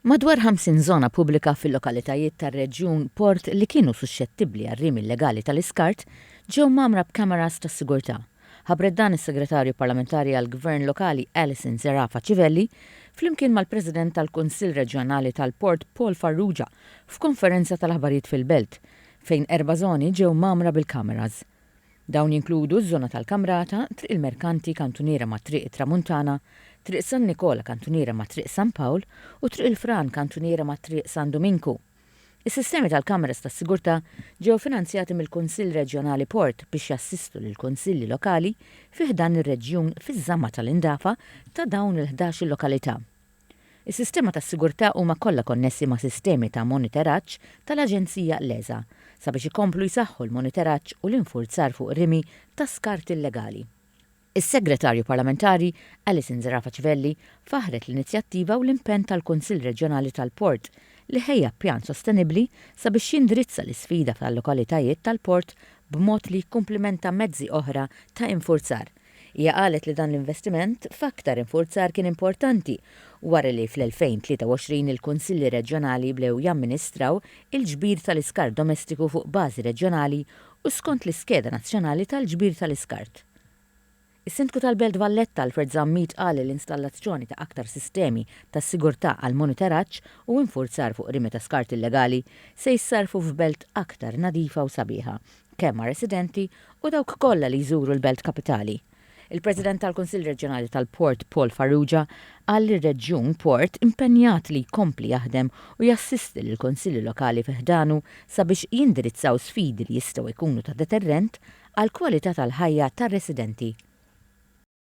Madwar 50 żona pubblika fil-lokalitajiet tar-reġjun port li kienu suxxettibbli għar-rimi illegali tal-iskart ġew mgħammra b'kameras tas-sigurtà. Ħabbret dan is-Segretarju Parlamentari għall-Gvern Lokali Alison Zerafa Civelli flimkien mal-President tal-Kunsill Reġjonali tal-Port Paul Farrugia f'konferenza tal-aħbarijiet fil-Belt fejn erba' żoni ġew mgħammra bil-kameras. Dawn jinkludu ż-żona tal-Kamrata, Triq il-Merkanti kantuniera ma' Triq it-Tramuntana, Triq San Nikola kantuniera ma' Triq San Pawl u Triq il-Fran kantuniera ma' Triq San Duminku. Is-sistemi tal-kameras tas-sigurtà ġew finanzjati mill-Kunsill Reġjonali Port biex jassistu lill-Kunsilli Lokali fi ħdan ir-reġjun fiż-żamma tal-indafa ta' dawn il-ħdax-il lokalità. Is-sistema tas-sigurtà huma kollha konnessi ma' sistemi ta' monitoraġġ tal-Aġenzija l-ESA sabiex ikomplu jsaħħu l-monitoraġġ u l-infurzar fuq rimi ta' skart illegali. Is-Segretarju Parlamentari Alison Zerafa Civelli faħħret l-inizjattiva u l-impenn tal-Kunsill Reġjonali tal-Port li ħejja pjan sostenibbli sabiex jindirizza l-isfida tal-lokalitajiet tal-port b'mod li jikkumplimenta mezzi oħra ta' infurzar Hija qalet li dan l-investiment f'aktar infurzar kien importanti wara li fl-2023 il-Kunsilli Reġjonali bdew jamministraw il-ġbir tal-iskart domestiku fuq bażi reġjonali u skont l-iskeda nazzjonali tal-ġbir tal-iskart. Is-Sindku tal-Belt Valletta Alfred Zammit qal li l-installazzjoni ta' aktar sistemi ta' sigurtà għall-monitoraġġ u infurzar fuq rimi ta' skart illegali se jissarrfu f'belt aktar nadifa u sabiħa. kemm għar-residenti u dawk kollha li jżuru l-Belt Kapitali. Il-President tal-Kunsill Reġjonali tal-Port Paul Farrugia qal li r-Reġjun Port impenjat li jkompli jaħdem u jassisti lill-Kunsilli Lokali fi ħdanu sabiex jindirizzaw sfidi li jistgħu jkunu ta' deterrent għall-kwalità tal-ħajja tar-residenti